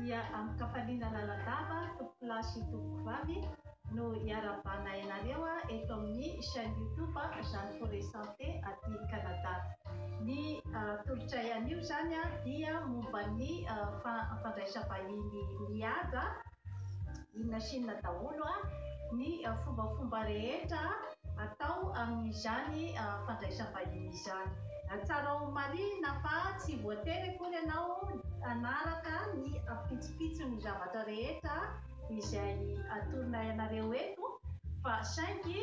dia amin-kafaliana lalandava tompokolahy sy tompokovavy no iarahabanay anareo eto amin'ny chaîne YouTube Jeanne Forêt Santé aty Canada. Ny tolotray anio izany dia momba ny fandraisam-bahiny mihaja Inona sy inona daholo ny fombafomba rehetra atao amin'izany fandraisam-bahiny izany. Tsarao marihina fa tsy voatery akory ianao hanaraka ny ampitsopitson'ny zavatra rehetra izay atoronay anareo eto fa saingy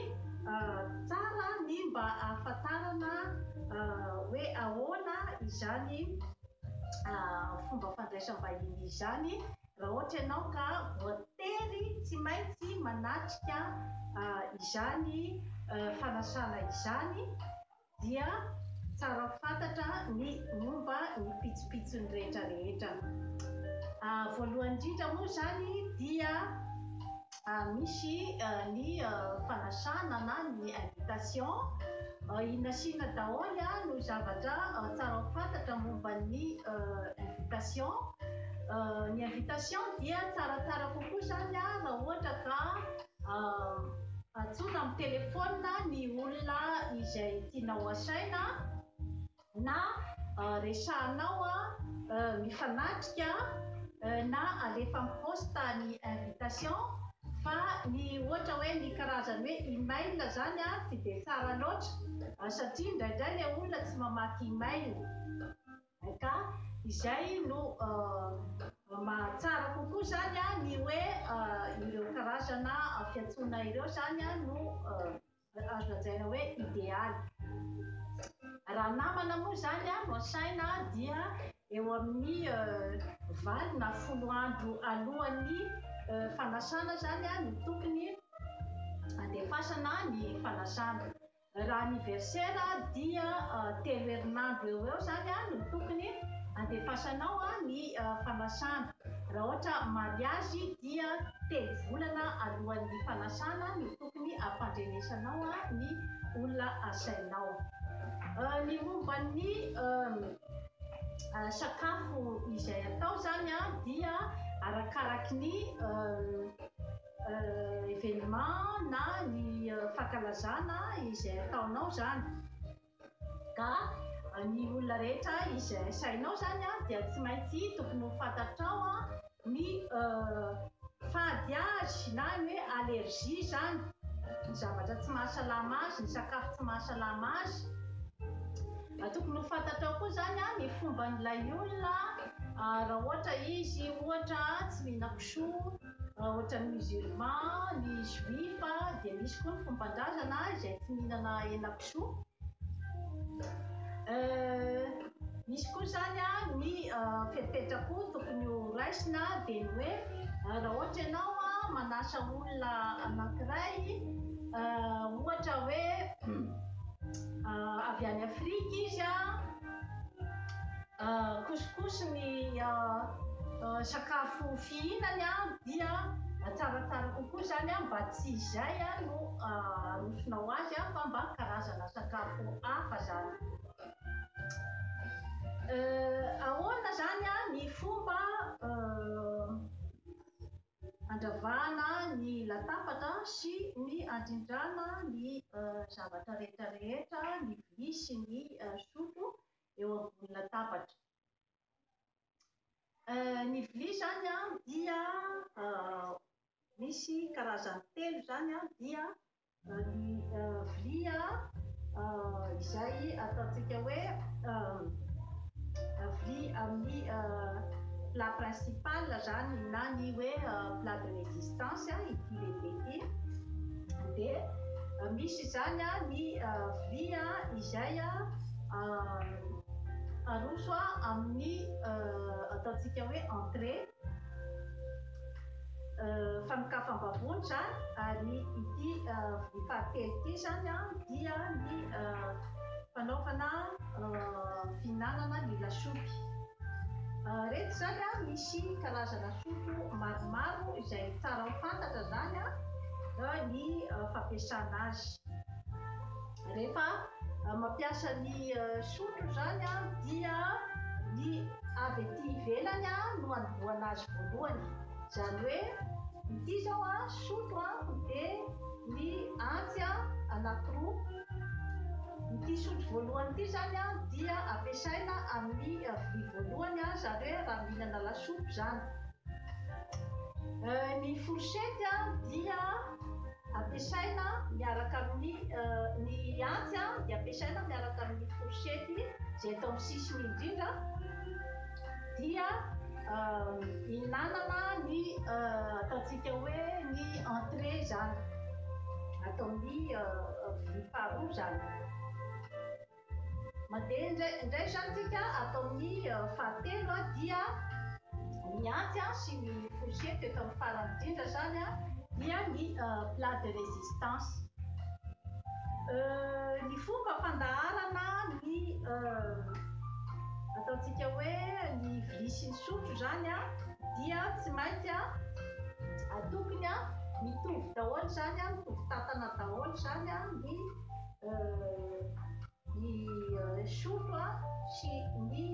tsara ny mba ahafantarana hoe ahoana izany fomba fandraisam-bahiny izany Raha ohatra ianao ka voatery tsy maintsy manatrika izany fanasana izany dia tsara fantatra ny momba ny pitsopitsony rehetra rehetra. Voalohany indrindra moa izany dia. Misy ny fanasana na ny invitation i nasiana daholo no zavatra tsara ho fantatra momba ny invitation. Ny invitation dia tsaratsara kokoa izany raha ohatra ka antsoina amin'ny telephone ny olona izay tianao asaina. na resahanao mifanatrika na alefa am poste ny invitation fa ny ohatra hoe ny karazany hoe email zany tsy dia tsara loatra satria indraindray ilay olona tsy mamaky email ka izay no mahatsara kokoa zany ny hoe ireo karazana fiantsoana ireo zany no azo lazaina hoe idealy. Raha namana moa izany no asaina dia eo amin'ny valo na folo andro alohan'ny fanasana izany no tokony handefasana ny fanasana. Raha anniversaire dia telo herinandro eo ho eo izany no tokony handefasanao ny fanasana. Raha ohatra mariazy dia telo volana alohan'ny fanasana no tokony hampandrenesanao ny olona asainao. Ny momba ny sakafo izay atao zany dia arakaraky ny evenement na ny fankalazana izay ataonao zany. Ka ny olona rehetra izay resahinao zany an dia tsy maintsy tokony ho fantatrao an ny fady azy na ny hoe allergie zany ny zavatra tsy mahasalama azy, ny sakafo tsy mahasalama azy, tokony ho fantatrao koa zany an ny fomban'ilay olona raha ohatra izy ohatra tsy mihinan-kisoa. Raha ohatran'ny musulman, ny juif dia misy koa ny fomban-drazana izay tsy mihinana henakisoa. Misy koa izany ny fepetra koa tokony ho raisina dia ny hoe raha ohatra ianao manasa olona anankiray ohatra hoe avy any Afrika izy couscous ny sakafo fihinany dia tsaratsara kokoa izany mba tsy izay no arosonao azy fa mba karazana sakafo hafa izany. Ahoana izany ny fomba handravahana ny latabatra sy ny handrindrana ny zavatra rehetra rehetra, ny vilia sy ny sotro eo ambony latabatra. Ny vilia izany dia misy karazany telo izany dia Ny vilia izay ataontsika hoe vilia amin'ny plat principal izany na ny hoe plat de résistance ity lehibe ity dia misy izany ny vilia izay aroso amin'ny ataontsika hoe entrée fanokafam-bahoaka izany ary ity voly fahatelo ity izany dia ny fanaovana fihinanana ny lasopy. Ireto izany an, misy karazana sopy maromaro izay tsara ho fantatra izany ny fampiasana azy. Rehefa mampiasa ny sotro izany dia ny avy ety ivelany no anombohana azy voalohany. Izany hoe ity izao sotro dia ny antsy anankiroa. Ity sotro voalohany ity izany dia ampiasaina amin'ny vilia voalohany izany hoe raha mihinana lasopy izany. Ny fourchette dia. Ampiasaina miaraka amin'ny Ny antsy dia ampiasaina miaraka amin'ny fourchette izay eto amin'ny sisiny indrindra dia ihinanana ny ataontsika hoe ny entrée izany, ataon'ny vilia faharoa izany. Mandeha indraindray izany tsika ato amin'ny fahatelo dia ny antsy sy ny fourchette eto amin'ny farany indrindra izany dia ny plat de résistance. Ny fomba fandaharana ny ataontsika hoe ny vilia sy ny sotro izany dia tsy maintsy atokony mitovy daholo izany mitovy tatana daholo izany ny ny sopa sy ny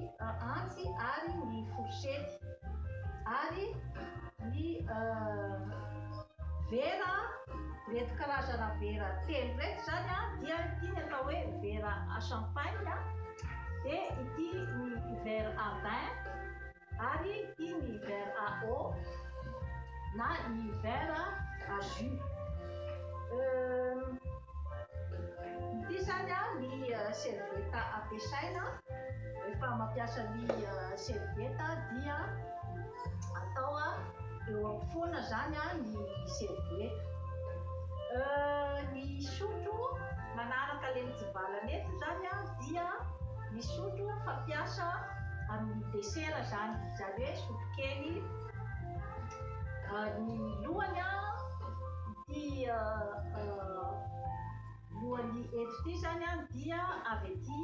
antsy ary ny fourchette ary ny vera ireto karazana vera telo ireto zany a dia ity ny atao hoe vera champagne dia ity ny verre à vin Ary i ny hiver à eau na i hiver à jus. Euh. Ity izany an ny servieta ampiasaina rehefa mampiasa ny servieta dia atao eo ampofoana izany an ny servieta. Euh ny sotro manaraka ilay mitsivalana eto izany an dia. Ny sotro fampiasa amin'ny desera zany, zany hoe sotro kely, ny lohany ity lohany eto ity zany dia avy aty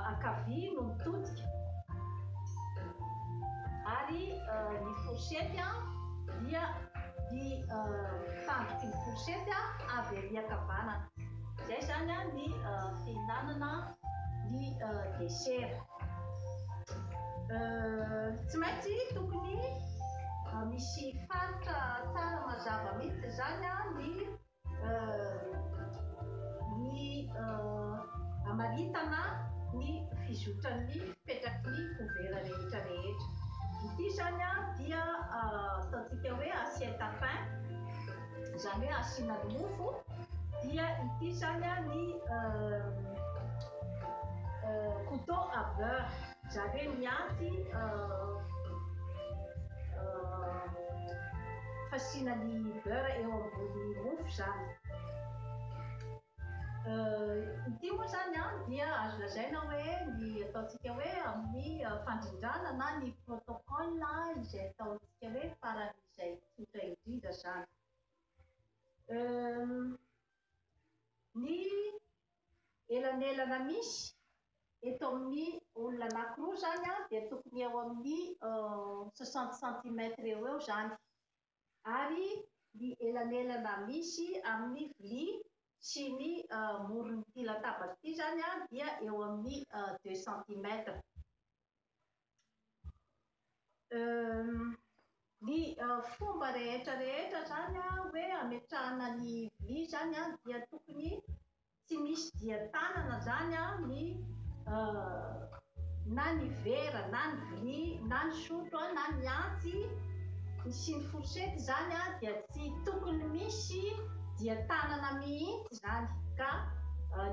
ankavia no mitodika ary ny fourchette dia ny tandroky ny fourchette avy ary ankavanana. Izay izany an ny fihinanana ny desera. Tsy maintsy tokony misy faritra tsara mazava mihitsy izany an ny ny hamaritana ny fizotran'ny fipetraky ny couvert rehetra rehetra. Ity izany an dia ataontsika hoe assiette à pain. Izany hoe asiana ny mofo dia ity izany ny couteau à beurre, izany hoe ny antsy fasiana ny beurre eo ambony mofo izany. Ity moa izany dia azo lazaina hoe ny ataontsika hoe amin'ny fandrindrana na ny protocole izay ataontsika hoe faran'izay. izay tsotra indrindra izany. Ny elanelana misy eto amin'ny olona anankiroa izany dia tokony eo amin'ny soixante centimètres eo eo izany. Ary ny elanelana misy amin'ny vilia sy ny moron'ity latabatra ity izany dia eo amin'ny deux centimètres. Ny fomba rehetra rehetra izany hoe hametrahana ny vilia izany an dia tokony tsy misy dia tanana izany an ny na ny vera na ny vilia na ny sotro na ny antsy sy ny fourchette izany an dia tsy tokony misy dia tanana mihitsy izany ka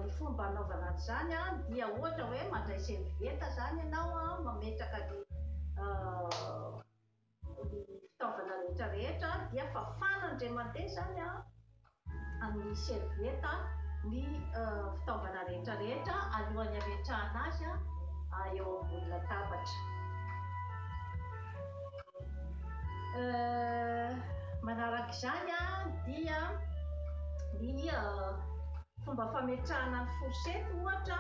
ny fomba anaovana azy izany dia ohatra hoe mandray serviette izany ianao mametraka ny fitaovana rehetra rehetra dia fafana indray mandeha izany amin'ny serviette ny fitaovana rehetra rehetra alohan'ny hametrahana azy eo ambony latabatra. Manaraka izany dia ny fomba fametrahana ny fourchette ohatra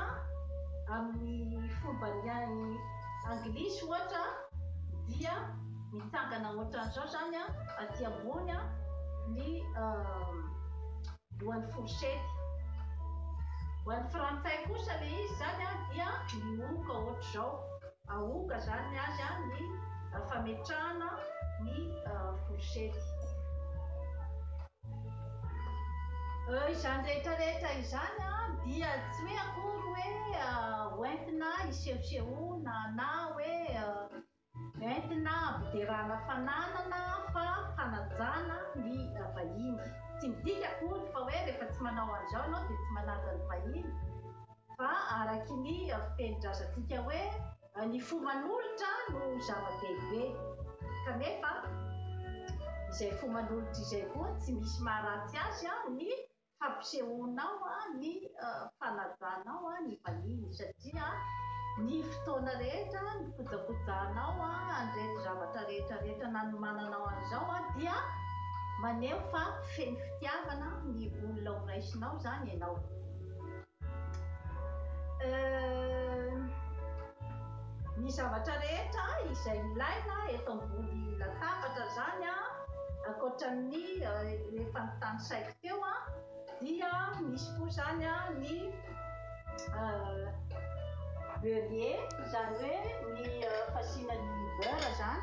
amin'ny fombany anglisy ohatra dia mitsangana ohatran'izao izany aty ambony ny lohan'ny fourchette. Ho an'ny frantsay kosa ilay izy izany dia mihohoka ohatr'izao. Aoka zany ny azy an ny fametrahana ny fourchette. Izany rehetra rehetra izany an dia tsy hoe akory hoe hoentina hisehosehoana na hoe entina hampderana fananana fa fanajana ny vahiny. Tsy midika akory fa hoe rehefa tsy manao an'izao ianao dia tsy manaja ny vahiny. Fa araky ny fiteni-drazantsika hoe ny fo manolotra no zava-dehibe, kanefa izay fo manolotra izay koa tsy misy maharatsy azy ny fampisehoanao ny fanajanao ny vahiny, satria ny fotoana rehetra nikojakojahanao an'ireto zavatra rehetrarehetra nanomananao an'izao dia maneho fa feno fitiavana ny olona horaisinao izany ianao. Ny zavatra rehetra izay ilaina eto ambony latabatra izany a, ankoatra ny efa notanisaiko teo a, dia misy koa izany a ny beurrier, izany hoe ny fasiana ny beurre izany.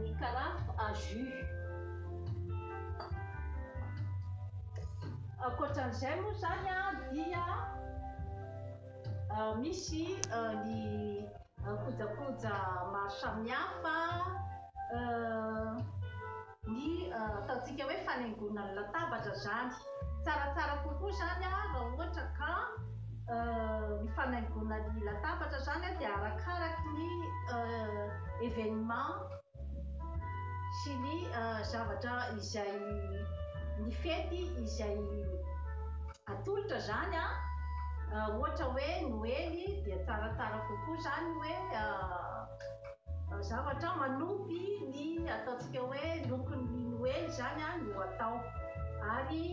Ny karafa à jus. Ankoatran'izay moa izany dia misy ny kojakoja maro samihafa, ny ataontsika hoe fanaingoana ny latabatra izany. Tsaratsara kokoa zany raha ohatra ka ny fanaingoana ny latabatra zany dia arakaraky ny evenement sy ny zavatra izay ny fety izay atolotra zany an, ohatra hoe noely dia tsaratsara kokoa zany hoe. Zavatra manopy ny ataontsika hoe lokon'ny Noely izany no atao ary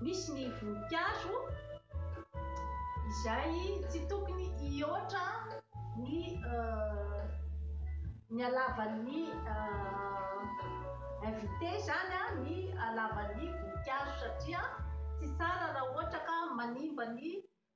misy ny voninkazo izay tsy tokony hihoatra ny ny halavan'ny invité izany ny halavan'ny voninkazo satria tsy tsara raha ohatra ka manimba ny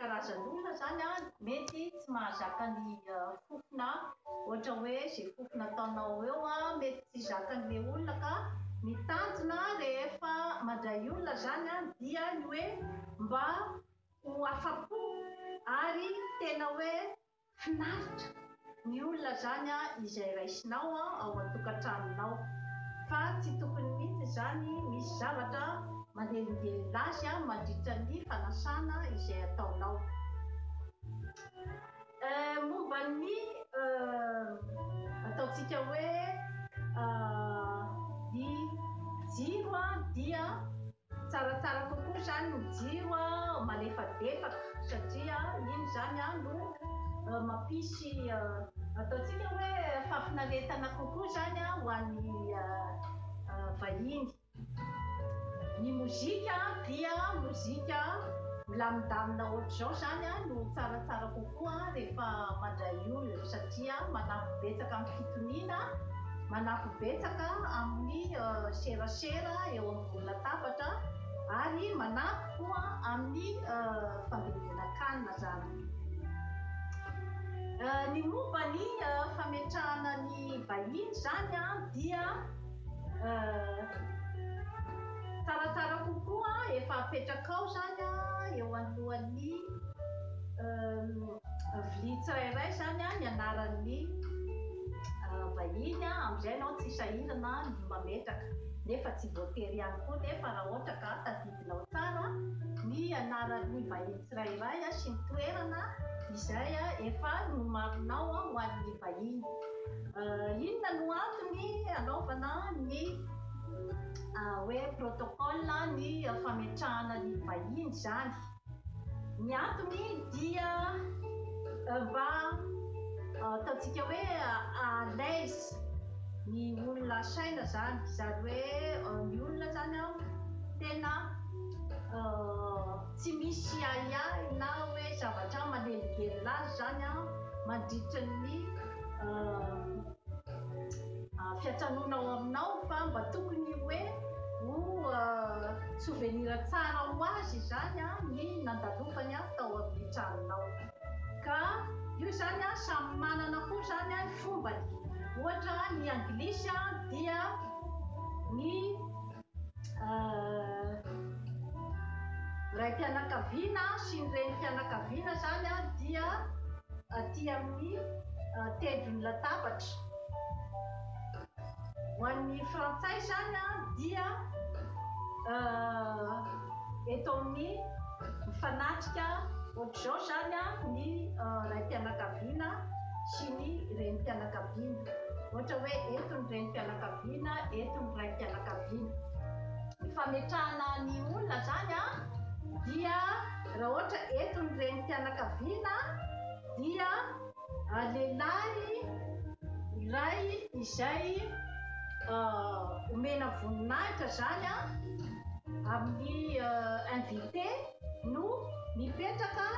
Karazan'olona zany an mety tsy mahazaka ny fofona ohatra hoe ze fofona ataonao eo an mety tsy zakan'le olona ka ny tanjona rehefa mandray olona zany an dia ny hoe mba ho afapo ary tena hoe Finaritra ny olona zany a izay raisinao a ao antokatranonao fa tsy tokony mitsy zany misy zavatra manelingelina azy a madritra ny fanasana izay ataonao eh momba ny eh ataontsika hoe ah ny jiro a dia Tsaratsara kokoa izany ny jiro malefadefaka satria iny izany no mampisy ataontsika hoe fahafinaretana kokoa izany ho an'ny vahiny. Ny mozika dia mozika milamindamina ohatr'izao izany no tsaratsara kokoa rehefa mandray olona satria manampy betsaka amin'ny fitoniana, manampy betsaka amin'ny serasera eo. latabatra ary manampy koa amin'ny fandiovana kanina zany. Ny momba ny fametrahana ny vahiny zany dia tsaratsara kokoa efa apetrakao zany eo anoloan'ny vilia tsirairay zany ny anaran'ny vahiny, amizay enao tsy sahirana. mametraka nefa tsy voatery ihany koa nefa raha ohatra ka tadidinao tsara ny anaran'ny vahiny tsirairay sy ny toerana izay efa nomarinao ho an'ny vahiny inona no antony anaovana ny hoe protocole ny fametrahana ny vahiny izany Ny antony dia mba ataontsika hoe à l'aise ny olona asaina izany, izany hoe ny olona izany an tena tsy misy ahiahy na hoe zavatra manelingelina azy izany an mandritra ny Fiantranoana ao aminao fa mba tokony hoe ho souvenir tsara ho azy izany ny nandalofany tao amin'ny tranonao. Ka io izany samy manana koa izany ny fombany. Ohatra ny anglisy dia ny. raim-pianakaviana sy ny renim-pianakaviana izany dia aty amin'ny tendron'ny latabatra. Ho an'ny frantsay izany dia eto amin'ny mifanatrika ohatr'izao izany ny raim-pianakaviana sy ny renim-pianakaviana. Ohatra hoe eto ny renim-pianakaviana. Vina eto ny raim-pianakaviana. Ny fametrahana ny olona zany dia raha ohatra eto ny renim-pianakaviana dia lehilahy iray izay omena voninahitra zany amin'ny invité no mipetraka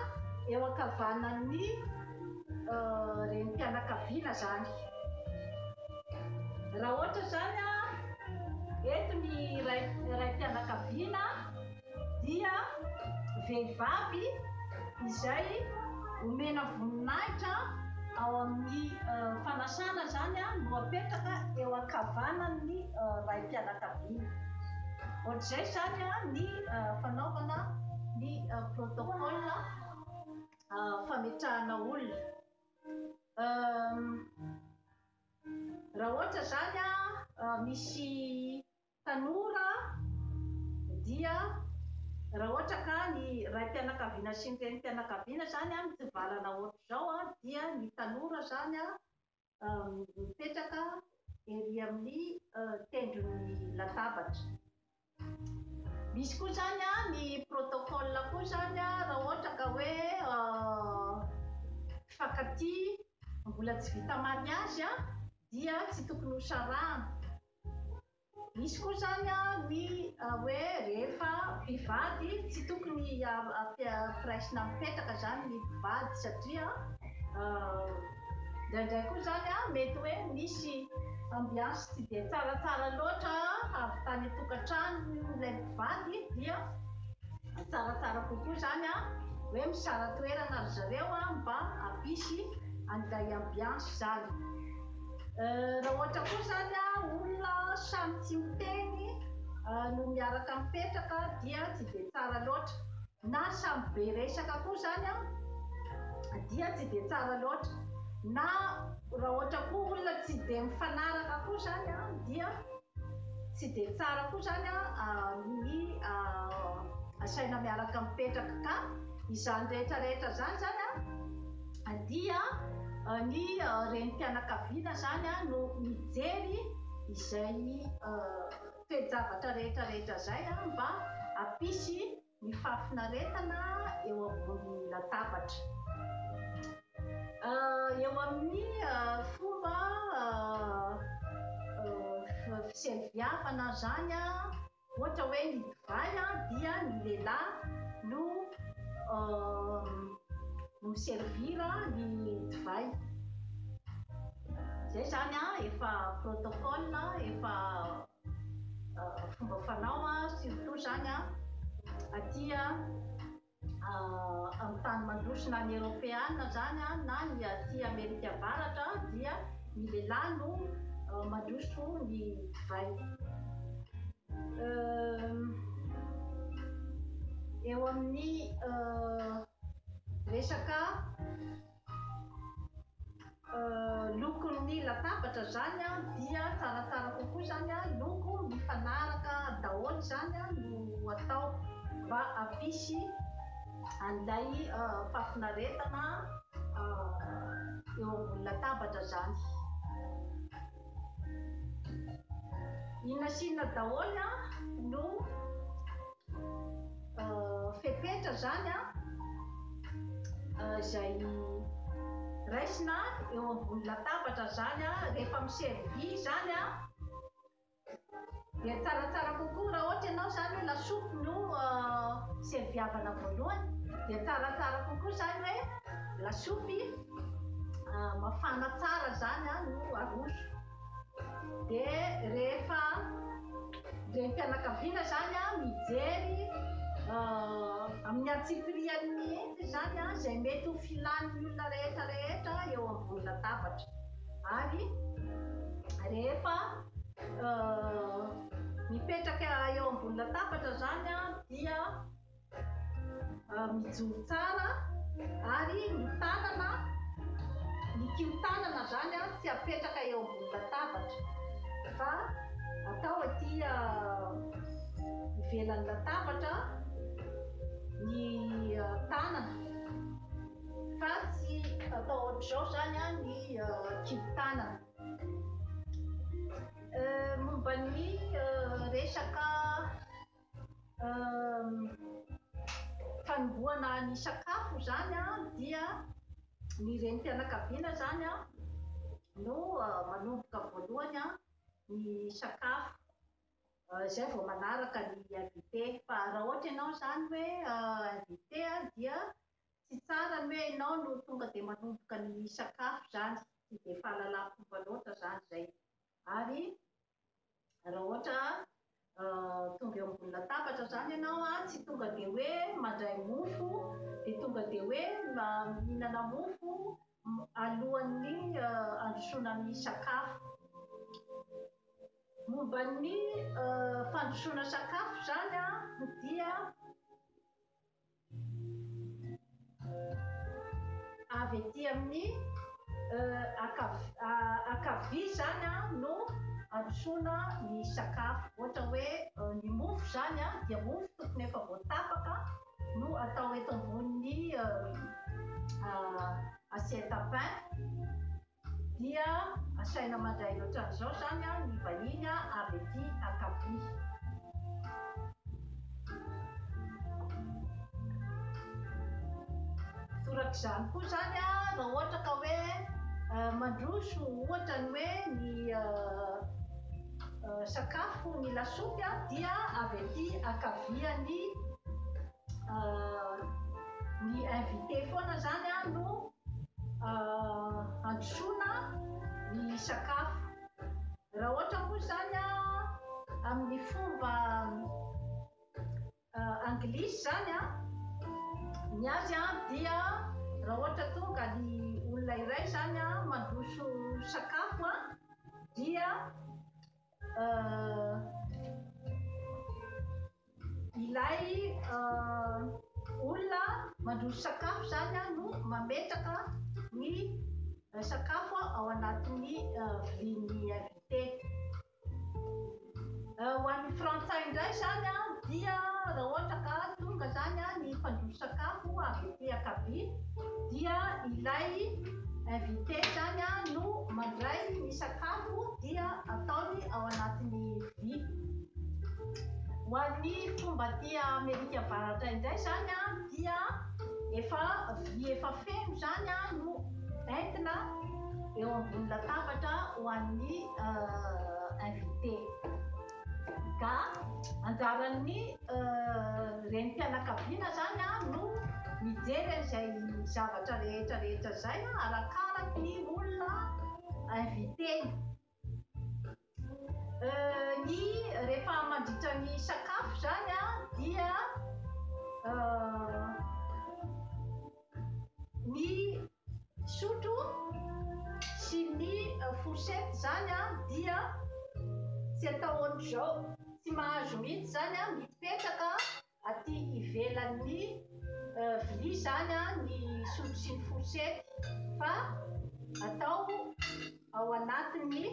eo ankavanan'ny renim-pianakaviana zany. Raha ohatra zany a, eto ny ray raim-pianakaviana dia vehivavy izay omena voninahitra ao amin'ny fanasana zany a no apetraka eo ankavanan'ny raim-pianakaviana. Ohatr'izay zany a ny fanaovana ny protocole. fametrahana olona raha ohatra zany an misy tanora dia raha ohatra ka ny raim-pianakaviana sy ny renim-pianakaviana zany an mitsivalana ohatr'izao dia ny tanora zany an mipetraka ery amin'ny tendron'ny latabatra. Misy koa zany a ny protocole koa zany a raha ohatra ka hoe mpifankatia mbola tsy vita mariage dia tsy tokony ho sarahana. Misy koa izany ny hoe rehefa mpivady tsy tokony ampiraisina mipetraka izany ny mpivady satria indraindray koa izany mety hoe misy ambiance tsy dia tsaratsara loatra avy tany an-tokantrano ilay mpivady dia tsaratsara kokoa izany hoe misara toerana ry zareo mba hampisy an'ilay ambiance izany. Raha ohatra koa izany olona samy tsy miteny no miaraka mipetraka dia tsy dia tsara loatra. Na samy be resaka koa izany dia tsy dia tsara loatra. Na raha ohatra koa olona tsy dia mifanaraka koa izany dia. Tsy dia tsara koa izany ny asaina miaraka mipetraka ka izany rehetra rehetra izany izany dia ny renim-pianakaviana izany no mijery izay toe-javatra rehetra rehetra izay mba hampisy Ny fahafinaretana eo ambony latabatra. Eo amin'ny fomba fisehoviavana ary izany ohatra hoe ny divay dia ny lehilahy no mi-servir ny divay. Izay izany efa protocole, efa fomba fanao a surtout zany a aty a amin'ny tany mandroso na ny eropeana zany a na ny aty amerika avaratra dia ny lehilahy no mandroso ny divay eo amin'ny resaka lokon'ny latabatra izany an dia tsaratsara kokoa izany an loko mifanaraka daholo izany an no atao mba hampisy an'ilay fahafinaretana eo ambony latabatra izany inona sy inona daholo an no fepetra zany an izay raisina eo ambony latabatra zany an rehefa miservi zany an dia tsaratsara kokoa raha ohatra ianao zany hoe lasopy no serviavana voalohany dia tsaratsara kokoa zany hoe lasopy mafana tsara zany an no aroso Dia rehefa renim-pianakaviana izany an, mijery amin'ny antsipiriany mihitsy izany an, izay mety ho filan'ny olona rehetra rehetra eo ambony latabatra. Ary rehefa mipetraka eo ambony latabatra izany an, dia Mijoro tsara ary ny tanana, ny kihon-tanana izany tsy apetraka eo ambony latabatra fa atao aty ivelan'ny latabatra ny tanana fa tsy atao ohatr'izao izany ny kihon-tanana. Momba ny resaka. fanombohana ny sakafo izany dia ny renim-pianakaviana izany no manomboka voalohany ny sakafo, izay vao manaraka ny invité. Fa raha ohatra ianao izany hoe invité dia tsy tsara ny hoe ianao no tonga dia manomboka ny sakafo izany, tsy dia fahalalam-pomba loatra izany izay. Ary raha ohatra tonga eo ambony latabatra zany ianao a tsy tonga dia hoe mandray mofo dia tonga dia hoe mihinana mofo alohan'ny androsoana ny sakafo momba ny fandrosoana sakafo zany a dia avy ety amin'ny ankavia izany no androsoana ny sakafo. Ohatra hoe ny mofo izany dia mofo tokony efa voatapaka no atao eto ambonin'ny assiette à pain. Dia asaina mandray ohatran'izao izany ny vahiny avy ety ankavia. Toraka izany koa izany raha ohatra ka hoe mandroso ohatra ny hoe ny sakafo, ny lasopy dia avy ety ankavia ny ny invité foana izany no. Handrosoana ny sakafo. Raha ohatra moa izany amin'ny fomba anglisy izany ny azy dia raha ohatra tonga ny olona iray izany mandroso sakafo dia Uh, ilay uh, olona mandroso sakafo zany a no mametraka ny uh, sakafo ao anatin'ny uh, vilin'ny invité. Uh, ho an'ny frantsay indray zany a dia raha ohatra ka tonga zany a ny fandroso sakafo avy ety akabia dia ilay invité zany a no mandray ny sakafo dia ataony ao anatin'ny vy. Ho an'ny fomba aty Amerika Avaratra indray izany dia efa vy efa feno izany no entina eo ambony latabatra ho an'ny invité. Ga, Anjaran'ny renim-pianakaviana izany no mijery an'izay zavatra rehetra rehetra izay arakaraky ny olona inviter-ny. Ny, rehefa mandritra ny sakafo izany dia Ny sotro sy ny fourchette zany an dia tsy atao ohatr'izao, tsy mahazo mihitsy zany an, mipetraka aty ivelan'ny vilia zany an ny sotro sy ny fourchette fa atao ao anatin'ny.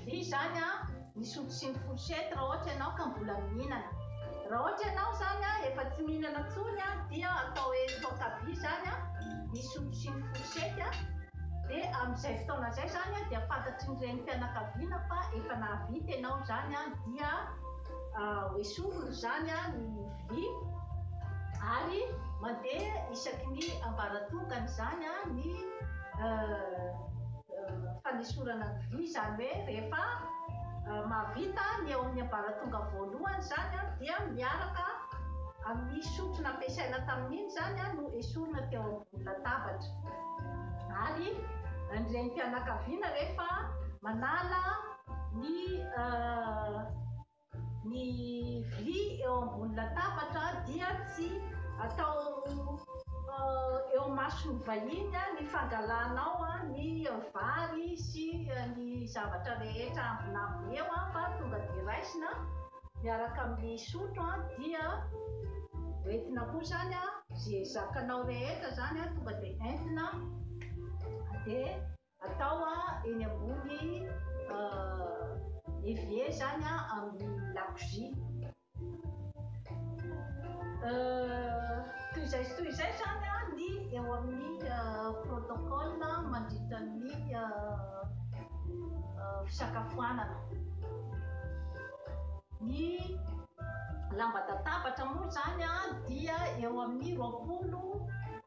Dia izany an, ny sotro sy ny fourchette raha ohatra ianao ka mbola mihinana. Raha ohatra ianao izany an efa tsy mihinana intsony an, dia atao hoe toaka aby izany an ny sotro sy ny fourchette an, dia amin'izay fotoana izay izany an dia fantatry ny renim-pianakaviana fa efa nahavita ianao izany an, dia hoesorina izany an ny vilia ary mandeha isaky ny ambaratongany izany an ny. fanesorana ny vy izany hoe rehefa mahavita ny eo amin'ny ambaratonga voalohany izany dia miaraka amin'ny sotro nampiasaina tamin'iny izany no esorina teo ambony latabatra ary ny renim-pianakaviana rehefa manala ny Ny vilia eo ambony latabatra dia tsy atao eo mason'ny vahiny ny fangalanao ny vary sy ny zavatra rehetra ambinambiny eo fa tonga dia raisina miaraka amin'ny sotro dia hoentina koa izany izay zakanao rehetra izany tonga dia entina dia Atao eny ambony evier zany amin'ny lakozia. Toy izay sy toy izay zany ny eo amin'ny protocole mandritra ny fisakafoanana. Ny lamban-databatra moa zany dia eo amin'ny roapolo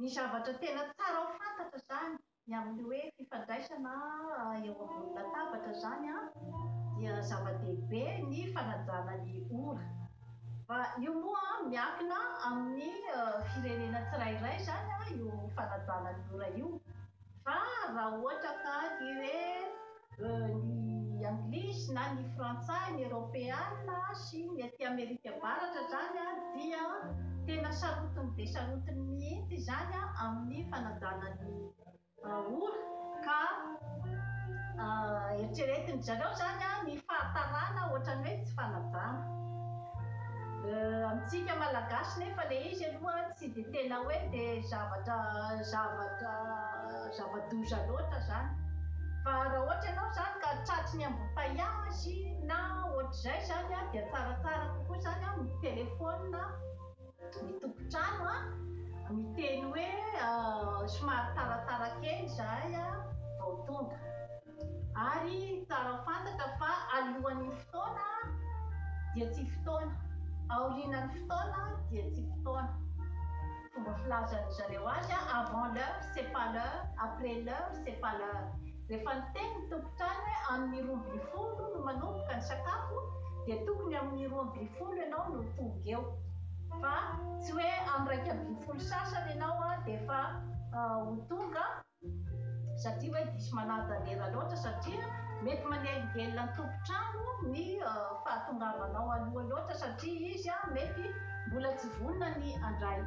Ny zavatra tena tsara ho fantatra izany ny amin'ny hoe fifandraisana eo ambony latabatra izany an, dia zava-dehibe ny fanajana ny ora. Fa io moa miankina amin'ny firenena tsirairay izany io fanajana ny ora io. Fa raha ohatra ka ny re ny anglisy na ny frantsay, ny eropeana sy ny aty amerika avaratra zany dia tena sarotiny be sarotiny mihitsy izany amin'ny fanajana ny ora ka eritreretin-dry zareo zany ny fahatarana ohatran'ny hoe tsy fanajana. Amintsika malagasy nefa le izy aloha Tsy dia tena hoe dia zavatra zavatra zava-doza loatra izany. Fa raha ohatra ianao izany ka tratry ny ambom-pahiazy na ohatr'izay izany an, dia tsaratsara kokoa izany an mi-telephone ny tompon-trano an, miteny hoe somary taratarà kely izahay vao tonga. Ary tsara fantatra fa alohan'ny fotoana dia tsy fotoana, aorianan'ny fotoana dia tsy fotoana. Fomba filazan-dry zareo azy, avant l'heure c'est pas l'heure, après l'heure c'est pas l'heure. Rehefa niteny ny tompon-trano hoe amin'ny roa ambin'ny folo no manomboka ny sakafo dia tokony amin'ny roa ambin'ny folo ianao no tonga eo fa tsy hoe amin'ny iraika ambin'ny folo sasany ianao dia efa ho tonga. Satria hoe diso manadalera loatra satria mety manelingelina ny tompon-trano ny fahatongavanao aloha loatra satria izy mety mbola tsy vonona ny handray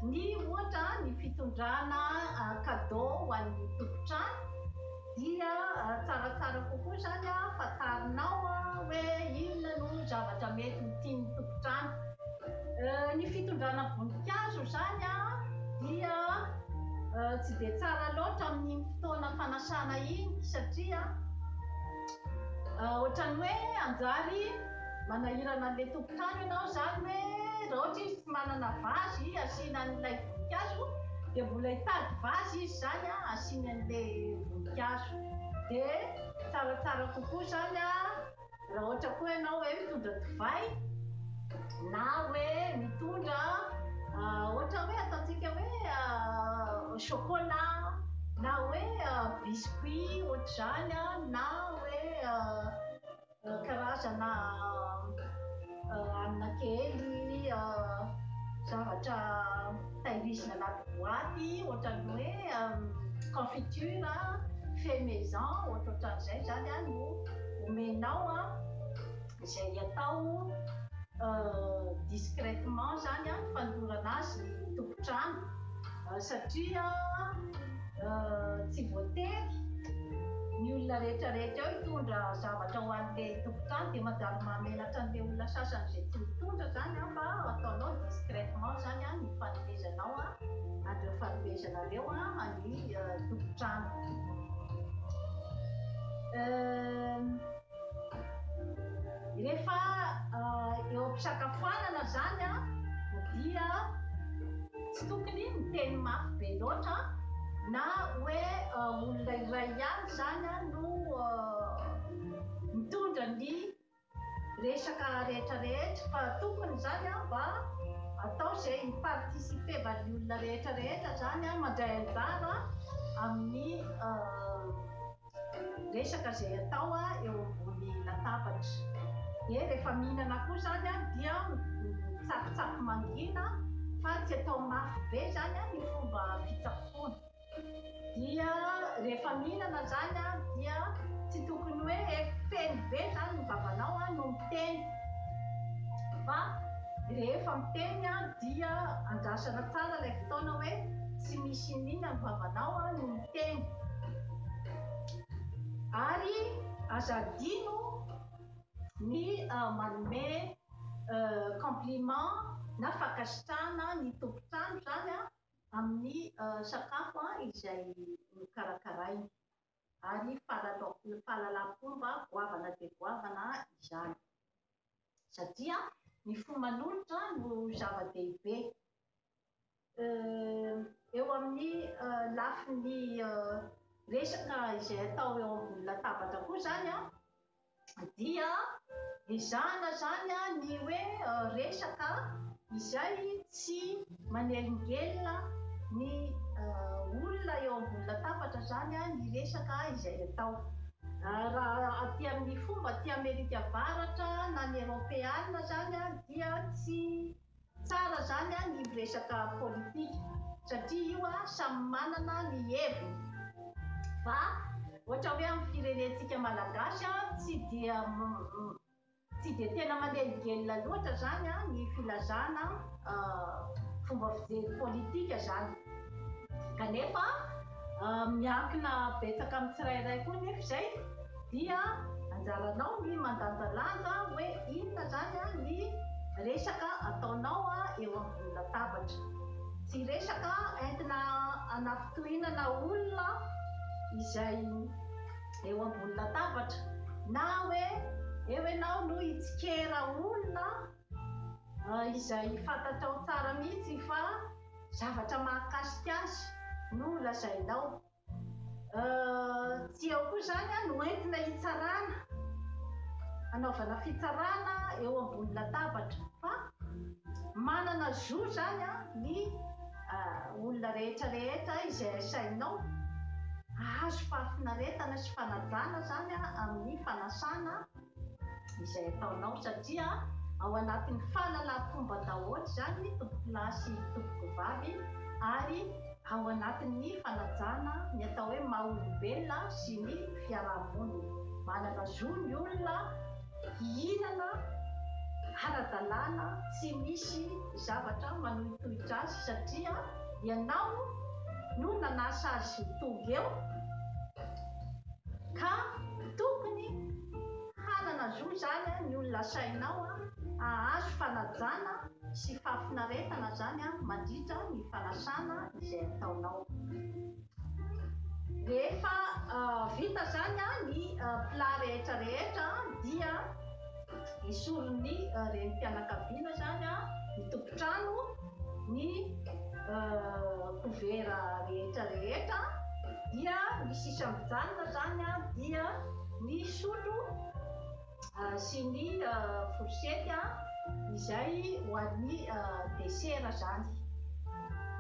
ny ohatra ny fitondrana cadeau ho an'ny tompon-trano. Dia tsaratsara kokoa izany fantarinao hoe inona no zavatra mety ho tian'ny tompon-trano. Ny fitondrana voninkazo izany dia tsy dia tsara loatra amin'iny fotoana fanasana iny satria ohatran'ny hoe hanjary manahirana an'ilay tompon-trano ianao izany hoe raha ohatra izy tsy manana vazy asiana an'ilay voninkazo dia mbola hitady vazy izy zany a asiany an'le voninkazo de tsaratsara kokoa zany a raha ohatra koa ianao hoe mitondra divay na hoe mitondra ohatra hoe ataontsika hoe chocolat na hoe biscuit ohatr'izany a na hoe Karazana hanina kely, zavatra tahirizina anaty boaty ohatran'ny hoe confiture, fait maison ohatrohatran'izay izany no omenao izay atao discrètement izany fandorana azy ny tompon-trano. Satria tsy voatery ny olona rehetra rehetra eo hitondra zavatra ho an'ilay tompon-trano dia manjary mahamenatra an'ilay olona sasany izay tsy mitondra izany an, fa ataonao discrètement izany an ny fanomezanao an an'ireo fanomezanareo an an'ny tompon-trano. Rehefa eo am-pisakafoanana izany dia tsy tokony miteny mafy be loatra na hoe olona iray ihany izany no mitondra ny resaka rehetra rehetra fa tokony izany mba atao izay hi-participer-van'ny olona rehetra rehetra izany mandray anjara amin'ny resaka izay atao eo ambony latabatra. Dia rehefa mihinana koa izany dia mitsakitsaky mangina fa tsy atao mafy be izany ny fomba fitsaboana. Dia rehefa mihinana izany dia tsy tokony hoe feno be izany ny vavanao no miteny fa rehefa miteny dia andrasana tsara ilay fotoana hoe tsy misy inona ny vavanao no miteny. Ary aza adino ny manome compliment na fankasitrahana ny tompon-trano izany amin'ny sakafo izay nokarakarainy. Ary fahalalam-pomba goavana dia goavana izany. Satria ny fo manolotra no zava-dehibe. eo amin'ny lafiny resaka izay atao eo ambony latabatra koa zany an, dia ezahana zany an ny hoe resaka izay tsy manelingelina ny olona eo ambony latabatra zany an ny resaka izay atao. Raha aty amin'ny fomba aty Amerika Avaratra na ny Eropeana zany an dia tsy Tsara zany an ny miresaka politika satria io an samy manana ny heviny fa ohatra hoe am firenentsika malagasy an tsy dia tsy dia tena manelingelina loatra zany an ny filazana fomba fijery politika zany kanefa Miankina betsaka amin'ny tsirairay koa nefa izay dia anjaranao ny mandanjalanja hoe inona izany ny resaka ataonao eo ambony latabatra. Tsy resaka entina hanafitohinana olona izay eo ambony latabatra na hoe eo ianao no hitsikera olona izay fantatrao tsara mihitsy fa Zavatra mahakasika azy no lazainao. Tsy eo koa izany no entina hitsarana, hanaovana fitsarana eo ambony latabatra fa manana zo izany ny olona rehetra rehetra izay asainao hahazo fahafinaretana sy fanajana izany amin'ny fanasana. izay ataonao satria ao anatin'ny fahalalam-pomba daholo izany ny tompokolahy sy ny tompokovavy ary ao anatin'ny fanajana ny atao hoe maha olombelona sy ny fiaraha-monina. Manana zo ny olona hihinana ara-dalàna tsy misy zavatra manohitohitra azy satria ianao no nanasa azy ho tonga eo, Ka tokony hanana zo zany ny olona sainao hahazo fanajana sy fahafinaretana zany mandritra ny fanasana izay ataonao. Rehefa vita zany ny plat rehetra rehetra dia esorin'ny renim-pianakaviana zany ny tompon-trano, Ny kovera rehetra rehetra dia ny sisa mijanona izany dia ny sotro sy ny fourchette izay ho an'ny desera izany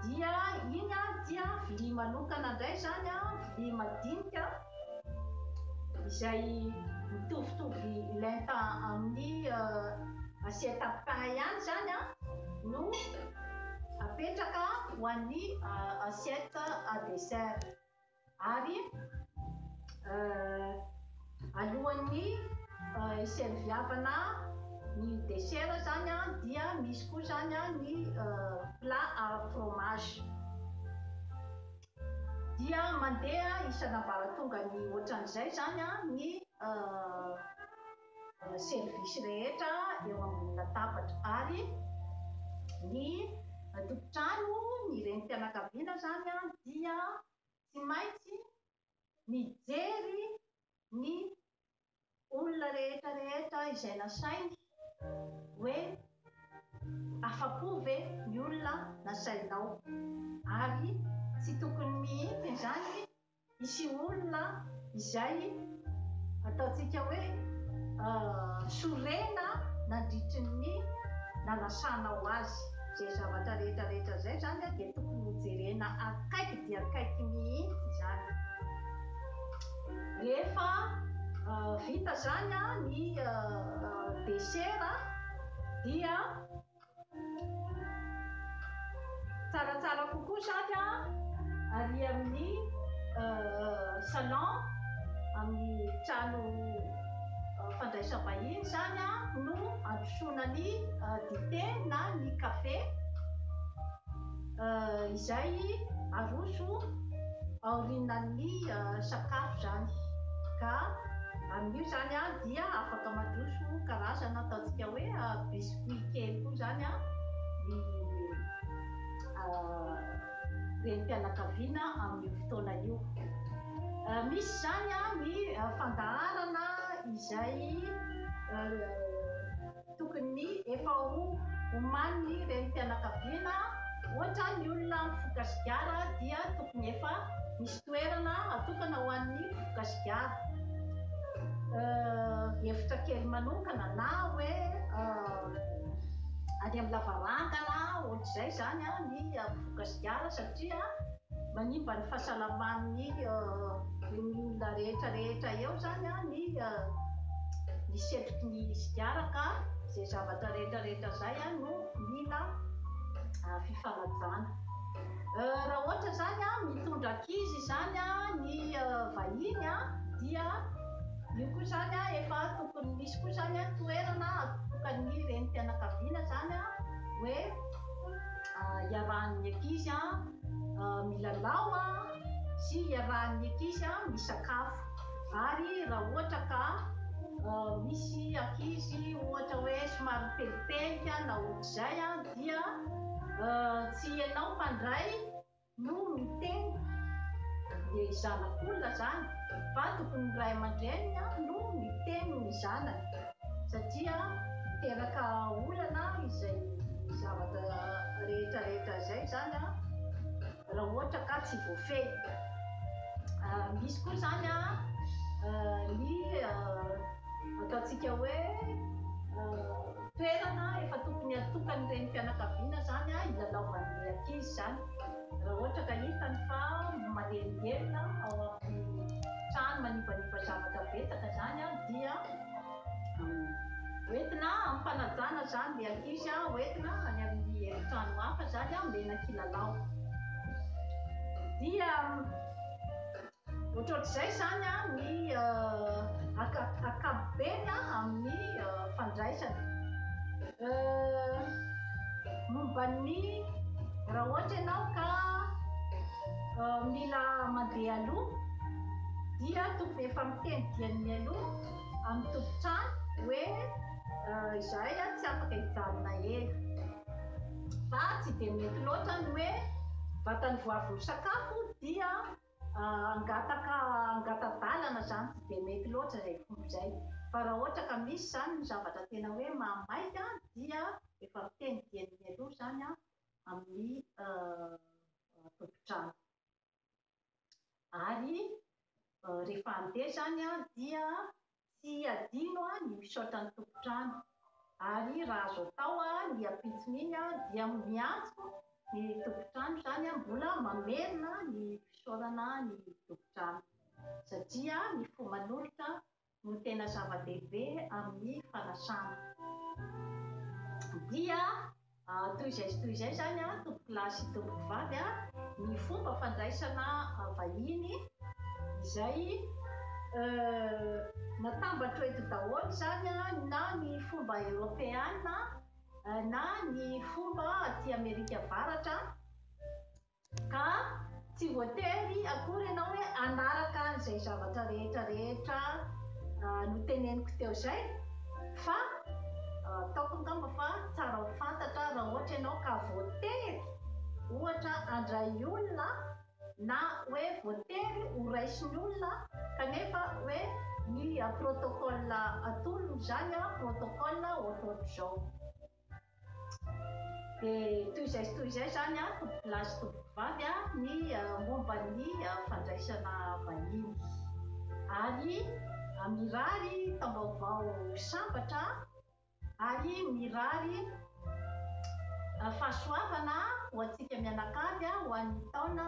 dia iny dia vilia manokana indray izany vilia madinika. izay mitovitovy lenta amin'ny assiette à pain ihany izany an, no apetraka ho an'ny assiette à dessert. Ary alohan'ny hiserviavana ny dessert izany an, dia misy koa izany an ny plat à fromage. dia mandeha isan'ambaratongan'ny ohatran'izay izany ny service rehetra eo ambony latabatra ary ny tompon-trano, ny renim-pianakaviana izany dia tsy maintsy mijery ny olona rehetra rehetra izay nasainy hoe afa-po ve ny olona nasainao ary tsy tokony mihitsy izany hisy olona izay ataontsika hoe sorena nandritry ny nanasanao azy. Izay zavatra rehetra rehetra izay izany dia tokony hojerena akaiky dia akaiky mihitsy izany. Rehefa vita izany ny desera dia tsaratsara kokoa izany ary amin'ny salon amin'ny trano fandraisam-bahiny izany no androsoana ny dite na ny kafe. izay aroso aorinan'ny sakafo izany ka amin'io izany an dia afaka mandroso karazana ataontsika hoe biscuit kely koa izany an ny renim-pianakaviana amin'io fotoana io. Misy izany an ny fandaharana izay Tokony ny efa ho omanin'ny renim-pianakaviana ohatra ny olona mifoka sigara dia tokony efa misy toerana atokana ho an'ny mpifoka sigara, efitra kely manokana na hoe any amin'ny lavarangana ohatr'izay izany ny mpifoka sigara satria. Manimba ny fahasalaman'ny olona rehetra rehetra eo zany ny ny setroky ny sigara ka zay zavatra rehetra rehetra zay no mila fifanajana. Raha ohatra zany mitondra ankizy zany ny vahiny dia io koa zany efa tokony misy koa zany toerana atokan'ny renim-pianakaviana zany hoe. iarahan'ny ankizy milalao sy iarahan'ny ankizy misakafo. Ary raha ohatra ka misy ankizy ohatra hoe somary pelipelika na ohatr'izay dia tsy ianao mpandray. no miteny dia zanak'olona zany va tokony ny ray aman-dreniny no miteny ny zanany satria miteraka olana izay zavatra rehetra rehetra zay zany raha ohatra ka tsy voafehy misy koa zany ny ataontsika hoe Toerana efa tokony hatokan'ny renim-pianakaviana izany hilalaovan'ilay ankizy izany raha ohatra ka hitany fa manelingelina ao amin'ny trano manivaniva zavatra betsaka izany dia hoentina hampanajana izany ilay ankizy, hoentina any amin'ny efitrano hafa izany omena kilalao dia. Ohatrohatr'izay izany ny ankapobeny amin'ny fandraisana. Momba ny raha ohatra ianao ka mila mandeha aloha dia tokony efa miteny diany mialoha amin'ny tompon-trano hoe izahay tsy afaka hijanona ela. Fa tsy dia mety loatra ny hoe vatany vao avy misakafo dia. Hangataka hangata-dalana izany tsy dia mety loatra izay fomba izay. Fa raha ohatra ka misy izany ny zavatra tena hoe mahamaika dia efa miteny dieny mialoha izany amin'ny tompon-trano. Ary rehefa handeha izany dia Tsy adino an ny misaotra ny tompon-trano ary raha azo atao an ny ampitsony iny an dia miantso ny tompon-trano izany an mbola mamerina ny fisaorana an ny tompon-trano satria ny fo manolotra no tena zava-dehibe amin ny fanasana dia Toy izay sy toy izay izany, tompokolahy sy tompokovavy, ny fomba fandraisana vahiny izay natambatro eto daholo izany na ny fomba eropeana na ny fomba aty Amerika Avaratra. Ka tsy voatery akory ianao hoe hanaraka izay zavatra rehetra rehetra noteneniko teo izay fa ataoko angamba fa tsara ho fantatra raha ohatra ianao ka voatery ohatra handray olona na hoe voatery ho raisin'ny olona kanefa hoe ny protocole atolony izany protocole ohatrohatr'izao. Dia toy izay sy toy izay izany an, lahy sy tovovavy, ny momba ny fandraisana vahiny. Ary mirary taom-baovao sambatra ary mirary fahasoavana ho antsika mianakavy ho an'ny taona